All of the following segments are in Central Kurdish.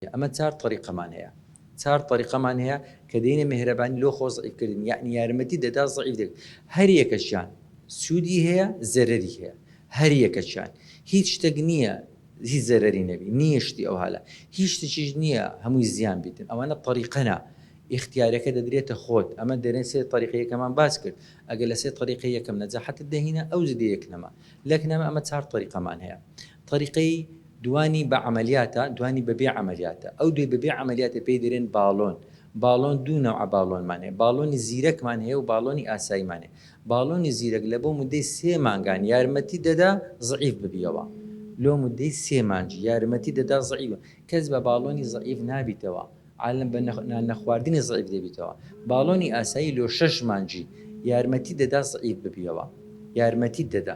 ئەمە چار تەریقەمان هەیە چار تەریقەمان هەیە کە دەینە مێهرەبانی لۆ خۆ زەعیف کردن یەعنی یارمەتی دەدا زەعیف دەک هەر یەکەکیان سوودی هەیە زەرەری هەیە هەر یەکەکیان هیچ شتەک نییە هیچ زەرەری نەبی نییە شتی ئەوهالە هیچ شتەکیش نییە هەمووی زیان بیتن ئەوانە تەریقەنە ئیختیارەکە دەدرێتە خۆت ئەمە دەرێن سێ تەریقە یەکەمان باس کرد ئەگەر لە سێ تەریقەی یەکەم نەجاحەتت دەهینە ئەوج دێ یەک نەما لەک نەما ئەمە چار تەریقەمان هەیە تەریقەی دوانی بە عەمەلیاتە، دوانی بە بێ عەمەلیاتە. ئەو دوای بە بێ عەمەلیاتە پێی دەرێن باڵۆن. باڵۆن دوو نەوعە باڵۆنمان هەیە، باڵۆنی زیرەکمان هەیە و باڵۆنی ئاساییمان هەیە. باڵۆنی زیرەک لە بۆ موددەی سێ مانگان یارمەتیت دەدا زەعیف ببیەوە. لۆ موددەی سێ مانج یارمەتیت دەدا زەعیف ببیەوە. کەس بە باڵۆنی زەعیف نابیتەوە. عالم بە نان نەخواردنی زەعیف دەبیتەوە. باڵۆنی ئاسایی لۆ شەش مانجی یارمەتیت دەدا زەعیف ببیەوە. یارمەتیت دەدا.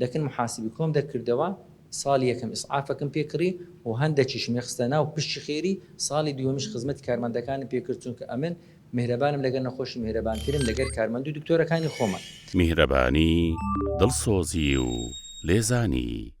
لەکن محاسبی کۆم دەکردەوە ساڵی یەکەم ئیسعافەکم پێ کڕی و هەندەکیشم ی خستە ناو پشتی خێری ساڵی دووەمیش خزمەتی کارمەندەکانم پێ کرد چونکە ئەمن میهرەبانم لەگەر نەخۆشی میهرەبانترم لەگەر کارمەندو دکتۆرەکانی خۆمان. میهرەبانی، دڵسۆزی و لێزانی.